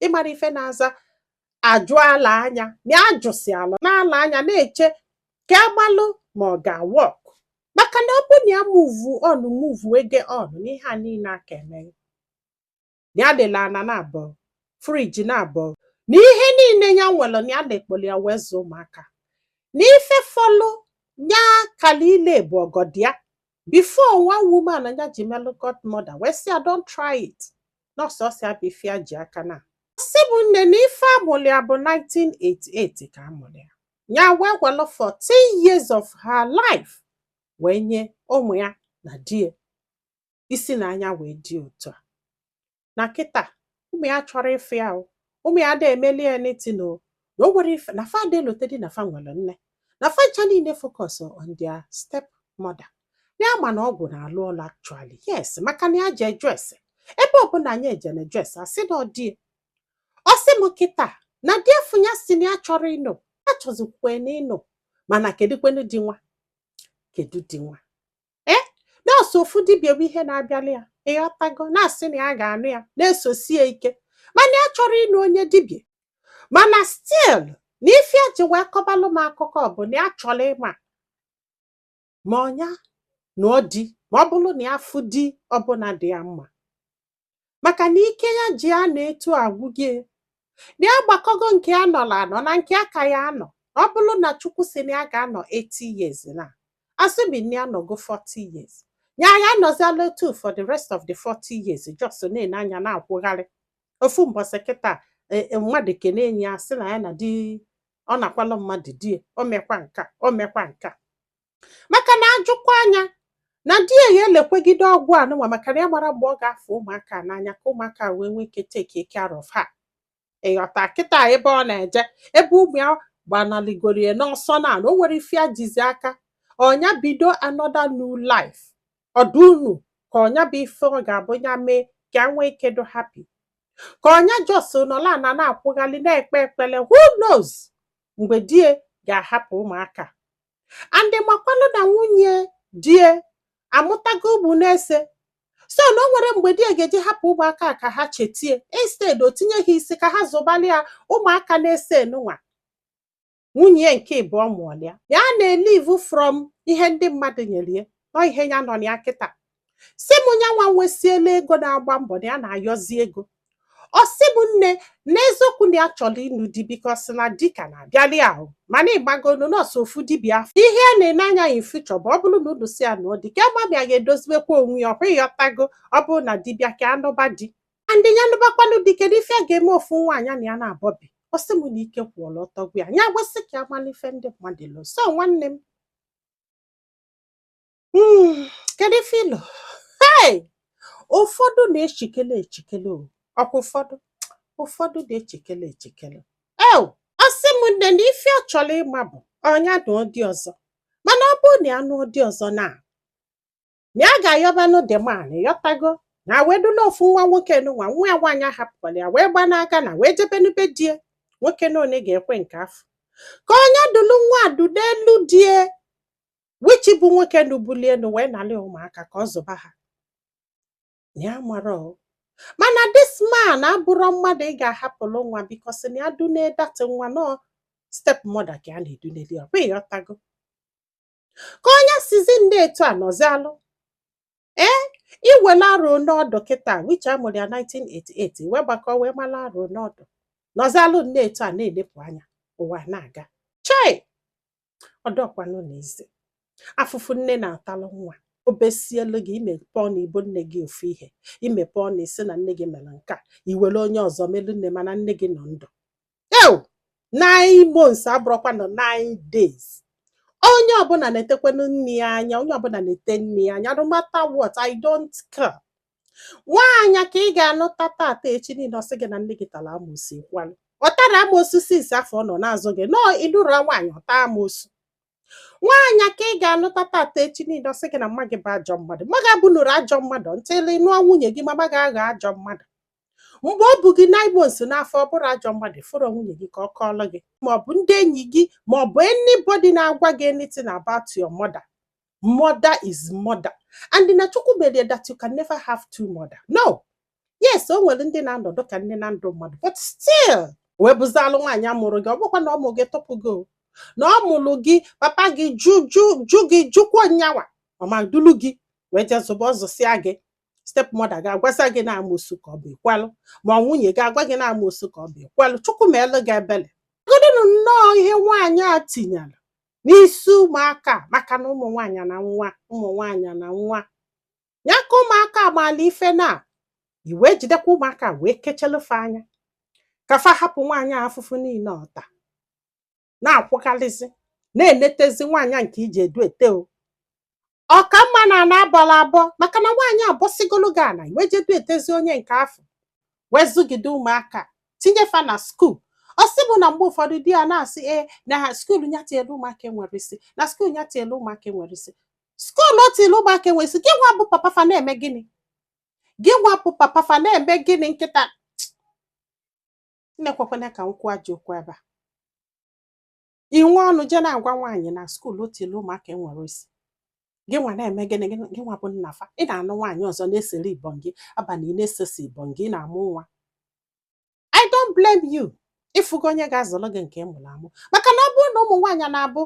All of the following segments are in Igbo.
ịmara ife na-aza ajụ ala anya na ajụsị ala n'ala anya na-eche ka agbalụ ma ọ ga-awork maka na ọ bụ na ya move on movego on n'ihe a niile aka eme ya ele ana naabọ friji naabọ na ihe niile ya nwere na ya na-ekpoli ya wee zụọ ụmụaka na ife fọlụ ya kala ile bụ ọgọdọ ya before one woman na ya ji melụ godmother wee sị ya don't try it na ọ sọsọ ya bụ ife ya ji aka na ọ sị bụ nne na ife a mụrụ ya bụ 1988 ka a mụrụ ya ya wee welụ 14 years of her life wee nye ụmụ ya na di ya isi na anya wee dị otu a na kịta ụmụ ya achọrọ ịfụ ya o ụmụ ya ada emeli ya anything o na o nwere ife na fa ada elotedị na fa nwere nne na fa ncha niile focus on their step mother ya ma na ọgwụ na-alụ ọlụ actually yes maka na ya je ajụ ese ebe ọbụla anyị eje na-ajụ ese a sị na ọ di ya ọ sị m kịta na di efunya sị na ya chọrọ ịnụ achọzikwe na ịnụ mana kedụkwenu di nwa kedu di nwa ee na ọ sọ ofu dibịa bụ ihe na-abịali ya ịghọtago na-asị na ya ga-anụ ya na-esosi ya ike mana ya achọrọ ịnụ onye dibịa mana still na ife ya ji wee kọbalụ m akụkọ bụ na ya chọrọ ịma ma ọ nya nụọ di ma ọ bụrụ na ya fụ di ọbụla dị ya mma maka na ike ya ji anọ etu agwụgo ya na ya gbakọgo nke ya nọrọ anọ na nke a ka ya-anọ ọ bụrụ na chukwu sị na ya ga-anọ 80 years na assuming na ya nọgo 40 years ya ya-anọziala etu for the rest of the 40 years just na-ene anya na-akwụgharị ofu mbọsị kịta e- e- mmadụ kene enyi ya sị na ya na di ọ nakwalụ mmadụ di ya, o mekwa nka o mekwa nka maka na ajụkwa anya na di ya ya elekwegide ọgwụ a nụnwa maka na ya mara mgbe ọ ga-afụ ụmụaka n'anya ka ụmụaka wee nwee ike take care of her ịghọta kịta ebe ọ na-eje ebe ụmụ ya gbanaligorie n'ọsọ na o nwere ife ya jizi aka ọ nya bido another new life ọdụ unu ka ọ nya bụ ife ọ ga-abụ ya mee ka ya nwee ike dị happy ka ọ nya just nọla na na-akwụghalị na-ekpe ekpele who knows mgbe di ya ga-ahapụ ụmụaka and ị makwanụ na nwunye di ya amụtago ụmụ neese so na o nwere mgbe di ya ga-eji hapụ ụmụaka a ka ha cheta ya instead o tinye ha isi ka ha zụbalị ya ụmụaka neese nụnwa nwunye ya nke ịbụọ mụọlụ ya ya na-elive from ihe ndị mmadụ nyere ya na ọ ihe ya nọ na ya kịta si m nyanwa nwesiela ego na-agba mbọ na ya na-ayọzi ego ọ sị m nne n'eziokwu na ya chọrọ ịnụ di because na di ka na-abịali ahụ mana ịgbagonu nọọsụ ofu dibịa afọ ihe a na-ene anya ya ife ọ chọ bụ ọ bụrụ na unu si ya na ọ dị ka mmadụ ya ga-edoziwekwa onwe ya ọkwa ịghọtago ọ bụrụ na di bịa ka a nụba di and ya nụbakwanụ di kedu ife a ga-eme ofu nwa nya na ya nabọ bi ọ sị m na ike kwụọla ọtọ gwụ ya ya gwesị ka ya mara ife ndị mmadụ lo so nwanne m Hmm, kedu ife i lo hey! ụfọdụ na-echikele echikele o ọkwa ụfọdụ ụfọdụ na-echikele echikele ew ọ sị m nne na ife ọ chọrọ ịma bụ ọ nya nụọ di ọzọ mana ọ bụrụ na ya nụọ di ọzọ na na ya ga-ayọbanụ the man ịghọtago na wedula ofu nwa nwoke nụnwa nwa ya nwaanyị ahapụkwara ya wee gbanaga na wee jebenu be die nwoke na one ga-ekwe nke a fọ ka ọ nya dulu nwa dunelu die which bụ nwoke nụ bulie elu wee nalị ụmụaka ka ọ zụba ha na ya mara o mana this man abụrọ mmadụ ị ga-ahapụrụ nwa because na ya dune that nwa na ọ step mother ka a na-eduneli ọ bụ ịghọtago ka ọ nya sizi nnọọ etu a nọzialụ ee i wela arọ one ọ dụ kịta which a mụrụ ya 1988 wee gbakọ wee mala arọ one ọ dụ nọzialụ nnọọ etu a na-elepụ anya ụwa na-aga chai ọ dụkwanụrọ easy afụfụ nne na-atalụ nwa obi esielu gị i mepe ọnụ i bo nne gị ofu ihe i mepe ọnụ i si na nne gị mere nke a i were onye ọzọ melu nne mana nne gị nọ ndụ ew nine months abụrọkwanụ nine days onye ọbụla netekwanụ nne ya anya onye ọbụla nete nne ya anya no matter what i don't care nwaanyị ka ị ga-anụta tata echi niile ọ sị gị na nne gị tara amoosu kwalụ ọ tarọ amoosu since afọ ọ nọ na-azụ gị nọọ ị lụrụ nwaanyị ọ taa amoosu nwaanyị ka ị ga-anụta tata echi niile ọ sị gị na mma gị bụ ajọ mmadụ mma gị abụnụrọ ajọ mmadụ until ị nụọ nwunye gị mama gị aghọ ajọ mmadụ mgbe o bu gị nine months n'afọ ọ bụrọ ajọ mmadụ fụrọ nwunye gị ka ọ kọọlụ gị ma ọ bụ ndị enyi gị ma ọ bụ anybody na-agwa gị anything about your mother mother is mother and na chukwu mere that you can never have two mother no yes o nwere ndị na-anọdụ ka nne na ndụ mmadụ but still wee bụzalụ nwaanyị a mụrụ gị ọ bụkwa na ọ mụ gị tụpụ gị o. na ọ mụrụ gị papa gị jụ jụ jụ gị jụkwa nyawa ọma dulu gị wee jee zụba ọ zụsịa gị step mother gị agwasa gị na amoosu ka ọ bụ i kwelụ ma nwunye gị agwa gị na amoosu ka ọ bụ i kwelụ chukwu meelụ gị ebele legodinụ nnọọ ihe nwaanyị a tinyere n'isi ụmụaka maka na ụmụ nwaanyị na nwa ụmụ nwaanyị na nwa ya ka ụmụaka maala ife na i wee jidekwa ụmụaka wee kechelu fa anya ka fa hapụ nwaanyị afụfụ niile ọ ta na-akwụgharịzi na-enetezi nwaanyị nke iji edu ete o ọ ka mma na ana abọla abọ maka na nwaanyị abọsigolu gị ana wee jedu etezi onye nke afụ wee zụgide ụmụaka tinye fa na skuul ọ sị bụ na mgbe ụfọdụ di ya na-asị ee na ha skuul ya tinyere ụmụaka enwerọ isi na skuul ya tinyere ụmụaka enwerọ isi skuul o tinyere ụmụaka enwerọ isi gị nwa bụ papa fa na-eme gịnị gị nwa bụ papa fa na-eme gịnị nkịta nna ekwekwana ka m kwuo ajọ okwu ebe a i nwe ọnụ je na-agwa nwaanyị na skuul o tielu ụmụaka enwerọ isi gị nwa na-eme gịnị gị nwa bụ nna fa ị na-anụ nwaanyị ọzọ na-esere ibọn gị abalị ị na-esesi ibọn gị ị na-amụ nwa I don't blame you ị fụgo onye ga-azụrụ gị nke ị mụrụ amụ maka na ọ bụrụ na ụmụ nwaanyị na-abụ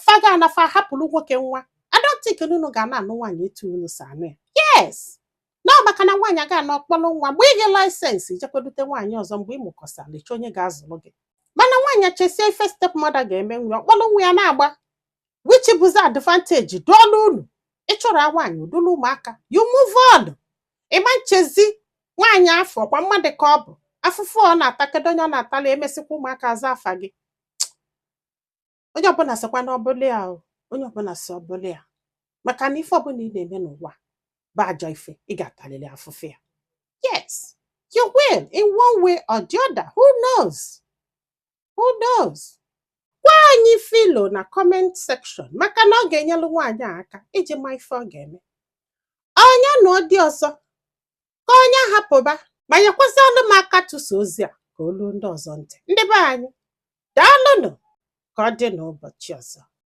fa ga-ana fa hapụrụ nwoke nwa I don't think na unu ga na-anụ nwaanyị etu unu si anụ ya yes na maka na nwaanyị ga-ana ọ kpọrọ nwa mgbe i ji license jekwa dute nwaanyị ọzọ mgbe ị mụkọsara ị chọ onye ga-azụrụ gị mana nwaanyị chesie ife stepmother ga-eme nwa ọ kpọrọ nwa ya naba which bụzi advantage dụọla unu ị chọrọ nwaanyị o dulu ụmụaka you move on ị ma nchezi nwaanyị afụ ọ kwa mmadụ ka ọ bụ afụfụ ọ na-ata kedu onye ọ na-atala emesịkwa ụmụaka aza afa gị onye ọbụla sịkwa na ọ bụlụ ya o, onye ọbụla sị ọ bụlụ ya maka na ife ọbụla ị na-eme n'ụwa bụ ajọ ife ị ga-atalili afụfụ ya yes you will in one way or the other who knows who knows gwa anyị ife i lo na comment section maka na ọ ga-enyelu nwaanyị a aka iji ma ife ọ ga-eme ọ nya nụ di ọzọ ka ọ nya hapụba ma nyekwazịnụ m aka tụsa ozi a ka o lu ndị ọzọ ntị ndị be anyị daalụnụ ka ọ dị n'ụbọchị ọzọ